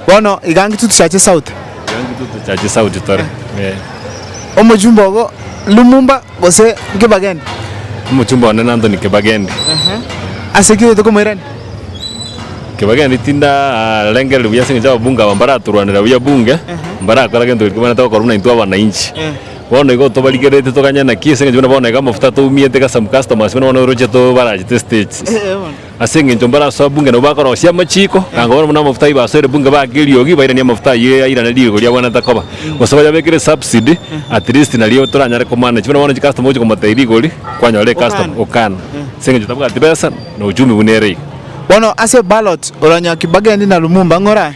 Bono iga ng'iti tochache sauti. Iga ng'iti tochache sauti tore, ee. Omochumba ogo Lumumba gose Nkibagende? Omochumba one n'Anthony Kibagende. Ase ki oyote komoirania? Kibagende tindarengereri buya ase eng'encho ababunge aba mbaratorwanera buya bunge, mbarakora gento keria kibaanete gokorwa buna intwe abananchi. Bono igo tobarigereretie toganye naki ase eng'encho buna bono iga amafuta toumiete iga some customers buna bono oroche tobarachete estage. Ase engencho mbarasoa bunge nabo bakorosia amachiko, na nkabora buna amafuta ayio basoire bunge baake eriogi, bairanie amafuta ayio yairane riiko riabwenerete koba, gose bayabekere subsidy, at least nario toranyare komanage. Buna bono chicustomer ogochia komotebia rigori, kwanyora ecustomer, okana, ase engencho tabwati besa, na uchumi buna ere iga. Bono ase ballot, oranyoa Kibageni na Lumumba ng'ora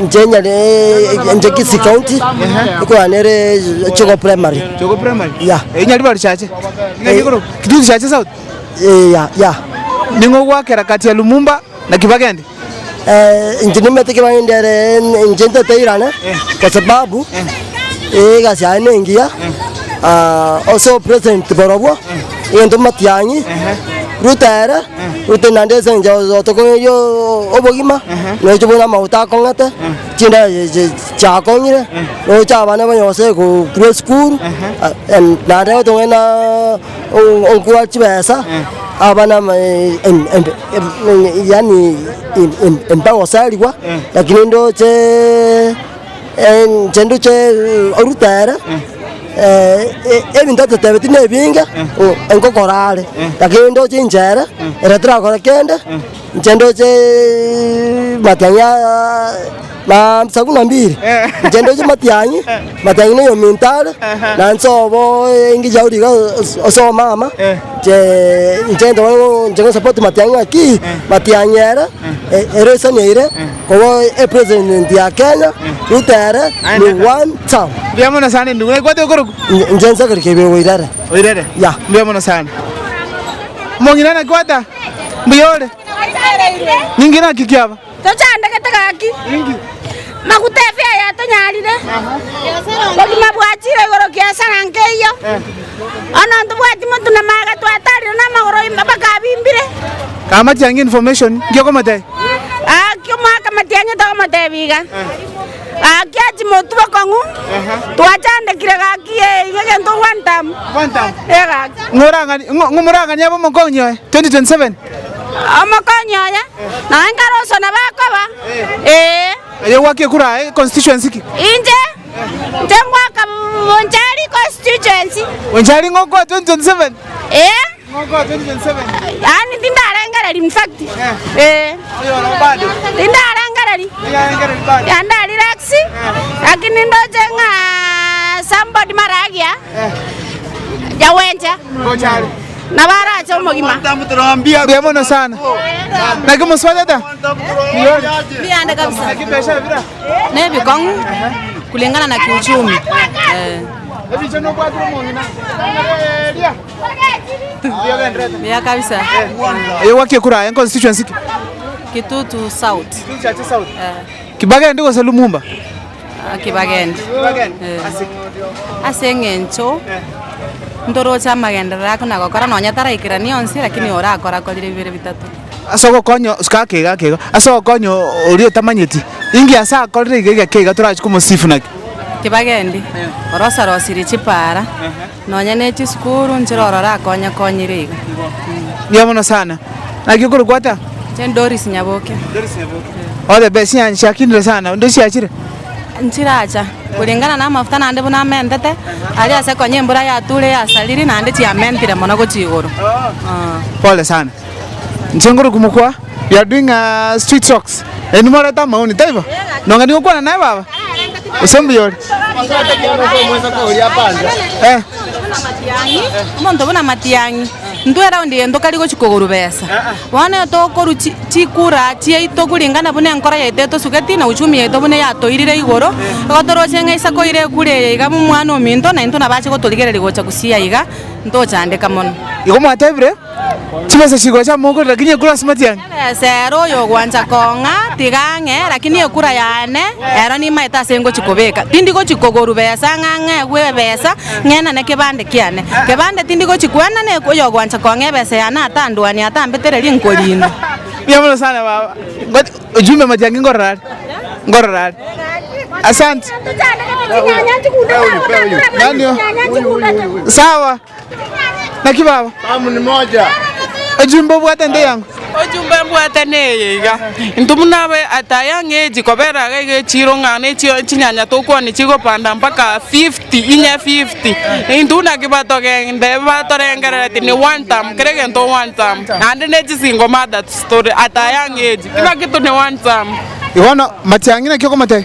Inche nyare inche Kisii county ekogana ere Chogo primary. Chogo primary? Yeah. Eyi Nyaribari risache? Ng'ai igoro? Kituu risache south? Eh, yeah, yeah. Ning'o ogwakera kati ya Lumumba na Kibagendi? Eh, inche nimanyete Kibagendi ere inche nteteirane kwa sababu egasi yaye nengiya ah ase obopresident borobwo. egento matiang'i, ruta ere, ruta naende esense oo tokoerio oo obogima, roche bono amauta akong'ete, chindae chi- chi chiakong'ire, roche abana banya gose gokwa esukuru, em naende otong'ane naaaa o- onkwa chibesa, abana ama e- em- em- em- yaani em- em- embagoserigwa, lakini ndocheeee. chinto chie oruta ere, ebinto atotebeti nebinge, nkokora are, lakini ndoche inche ere, ere torakore kende, inche ndoche matiang'i aa na sabuni na mbili, inche ndoche matiang'i, matiang'i na eyominto are, na nsobo engiya ore iga ase omama, inche ntoboe inche ngosupport matiang'i ng'a ki, matiang'i ere, ere esani eire. Obo e president ya Kenya Ruto ere ni one term. Mbuya mono sana endugu. Naigwete okoroku. Inche nsakeri kebere oirere. Oirere? Yeah. Mbuya mono sana. Mong'ina nakwata. Mbuya ore. Ninki naki kiaba? Tochandegete gaki. Ninki? Maguta efea yatonyarire. Obogima bwachire igoro kiasara nkeiyo. Onoo ntobwati motu na maega twataarire namagoro ime mpaka abimbire. Aa matiang'i information, nki okomotebia? Gaki omoaka matiang'i tokomotebia iga. Gaki achi motu bokong'u, twachandekire gaki ee iga egento one term. Ee gaki. Ng'orang'ani- ng'o- ng'omorang'ani abe omokonyi oye 2027? Omokonyi oye, naye nkaroswa nabo akoba. Ee. Aye ogwaka ekura aye constituency ki? Inche. Nteng'oka Bonchari constituency. Bonchari ng'okoa 2027? Ee. Ng'okoa 2027? Yaani tindarengereri in fact. Ee. Tindarengereri. Ya ndarelax. Lakini ndoche ng'a somebody maragia. Ya wenche. Na barache omogima. Mbuya mono sana. Naki mosubati ata? Mbuya ande kabisa. nebikong'u kulingana na kiuchumi buya kabisa Oyo gwaki ekura aye constituency ki? kitutu south Kibagendi gose Lumumba? Ah, kibagendi Eh. ase eng'encho ntoroche amagenderero ake nagokora nonya taraikerania onsi lakini orakorakorire bibere bitato Ase ogokonya, suka ake iga ake iga, ase ogokonya oria otamanyeti, inki ase akorire iga iga ake iga torachi komosifu naki? Kibagendi, orosarosirie chipaara, nonya ne chisukuru, nchire orore akonyekonyire iga. Mbuya mono sana. Naki okorokwa ata? Inche ndi Doris Nyaboke. Ore be siani siakinire sana, ndi siachire? Nchiracha, kulingana na amafuta nande buna amentete, aria ase konya embura yature yasariri, nande chiamentire mono gochia igoro. Pole sana. Nchenguru kumukwa you are doing a street socks eh nimorete amaoni taibo nonga nigokwana naye baba gose mbuya ore eh Omonto buna matiang'i intwe eround eye ntokari gochi koguru besa bono igo tokoru chi chikura chiaito kuringana buna enkoro yaito etosugeti na uchumi yaito buna yatoirire igoro igo toroche ng'a isiko ire ekure eye iga omwana ominto naintwe nabache gotorigereria gocha gusii aiga ntochandeka mono. Igo mwatebire. Chibesa chigocha amo okore, lakini ekura ase matiang'i. Chibesa ere oyogwancha kong'a tiga ang'e, lakini ekura yane ero nimaete ase ngochi kobeka. Tindi gochi kogoru besa ng'a ng'egwe ebesa ng'enane kebande kiane. Kebande tindi gochi kwena ne oyogwancha kong'a ebesa yane atandwani atambeteri rinkorindwa. Mbuya mono sana baba. Ngochi ojumbe matiang'i ngorora are. Ngorora are. Asante. Nani oo? Sawa. Naki baba? Ejumbe obwate nde yango. Ojumbe mbwate neye iga, intwe buna abe ataya ng'echi kobera iga iga echiro ng'a nechio chinyanya tokwane chigopanda mpaka fifty inye fifty intwe buna ki batogende batorengerereti ni one term kera egento one term naende ne chisingle mothers tore ataya ng'echi ki naki tore one term. Bono matiang'i naki okomotebia.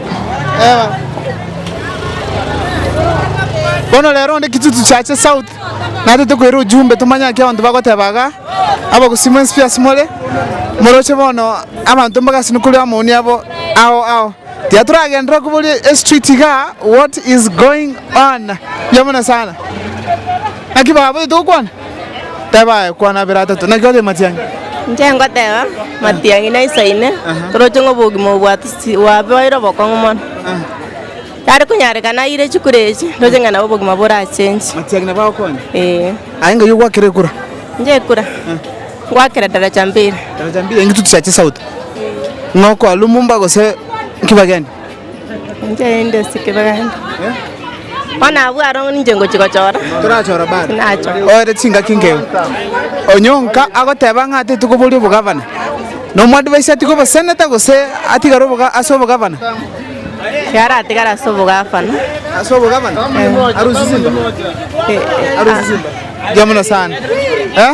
Bono rero onde kitutu chiache south natete koira ujumbe tomanye naki abanto bagoteba igaa abagusii mwensi pi asimore moroche bono abanto mbagasinwe kore amaoni abo ao ao tiga toragenderere koboria estreet igaa what is going on mbuya mono sana naki baba togokwani. Teba aye, kwana abere atato. Naki otebe matiang'i? Inche ngoteba, matiang'i naisa ine, toroche ng'a obogima obo bwatose chi- bwabeire obokong'u mono. Yare konyarekana aire chikura echi, ndoche ng'a nabo obogima borachenche. Matiang'i nabo agokonye? Ee. Aye ng'ai ogwakera ekura? Inche ekura? Ngwakera daraja mbili. Daraja mbili? Eng'ituti chia chisauti? Ng'a okoa Lumumba gose Kibageni? Inche rende ase ekebeganto, bono abwo aro ninche ngochia gochora, tinachora. Oere chingaki nkeu. Onyonka agoteba ng'a teti koboria obogavana. Na omoadvice atige oboseneta gose atigare oboga ase obogavana. Iga aratigare ase obogavana. Ase obogavana? Arusie simba? Arusie simba? Mbuya mono sana. Eh?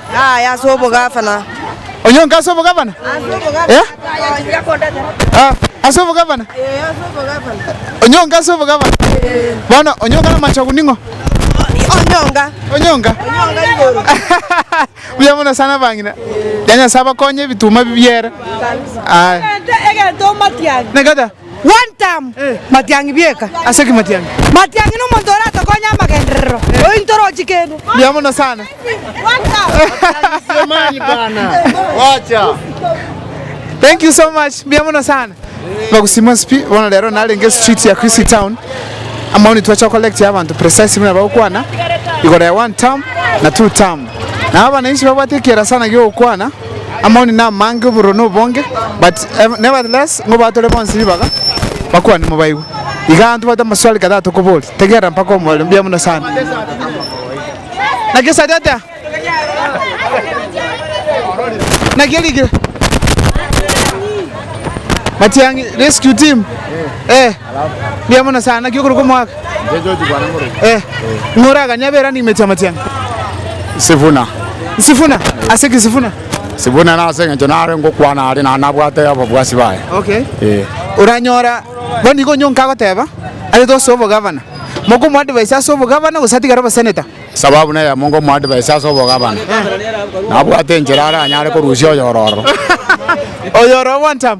Aye ase obogavana. Onyonka ase obogavana? Eh? Ah, ase obogavana? Onyonka ase obogavana? Bono onyonka namachogu ning'o? Onyonga. Onyonka? Onyonga igoro. Buya mono sana abang'ina. Ya Nyasae abakonye ebituma bibiere. Aye. Egento matiari. Nekata. One term Matiang'i bieka. Ase ki Matiang'i? Matiang'i nomonto oratokonye amagenderero oyo intorochi kende. Mbuya mono sana. Thank you so much. Mbuya mono sana. Bagusima onsi pi. Bono rero narenge street ya Chrisi town. Amaoni twacha gocollect abanto precise buna bagokwana igoro ya one term na two term. Nabo abananchi babwate ekiera sana giogokwana. Amaoni namange obororo nobonge but nevertheless nigo batore bonsi ribaga bakwane mobaigwe igaa ntobwate amaswali kadhaa tokoboria tegerera mpaka omorero mbuya mono sana naki satete naki erigire matiang'i rescue team eh. Mbuya mono sana, naki okoruka omwaka? Eh, ng'a oraganye aberani imeti amatianga. Sifuna. Sifuna? Ase ki Sifuna? Sifuna nase engencho nare ngokwana are na nabwate ababwasi baye. Okay. Eh. Oranyora bono igo onyonka agoteba aye tose obogavana. Moka omoadvise ase obogavana gose atigare oboseneta. Sababu neyemo ngomoadvise ase obogavana. Nabwate enchera aranyare korusia oyororo. Oyoroo one term.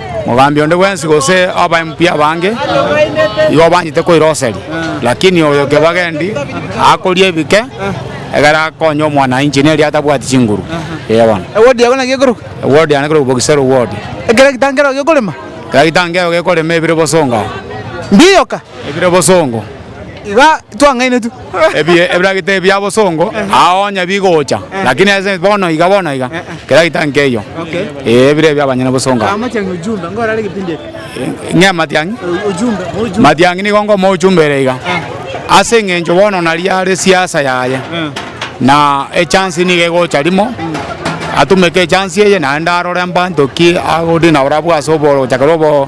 Mogambi onde bwensi gose abaimbi b'abange igo banyete koiroseria, lakini oyo kebagendi akoria ebike, egere akonye omwananchi neri atabwati chinguru. Ee bono. Ewodi yago naki ekoroka? Ewodi yane ekoroka Bogisa Road. Ekero egetangero gekorema? Ekero egetangero gekorema ebire bosonga. Mbiyoka? Ebire bosongo. Iga twang'ainetwe. Ebiye ebiragete ebia bosongo ao onye bigocha lakini ase bono iga bono iga kera gita nkeiyo ee ebire ebia abanyene bosongo aba. Amatiang'i ujumbe ngoro are kipindi eke. Ng'e matiang'i? Ujumbe mo ujumbe. Matiang'i nigo ngoma ujumbe ere iga. Ase eng'encho bono nari are siasa yaye. Na echance niga egocha rimo atumeke echance eye naende arore mbanto ki agodeal nabo nabo ase obogochaka obo.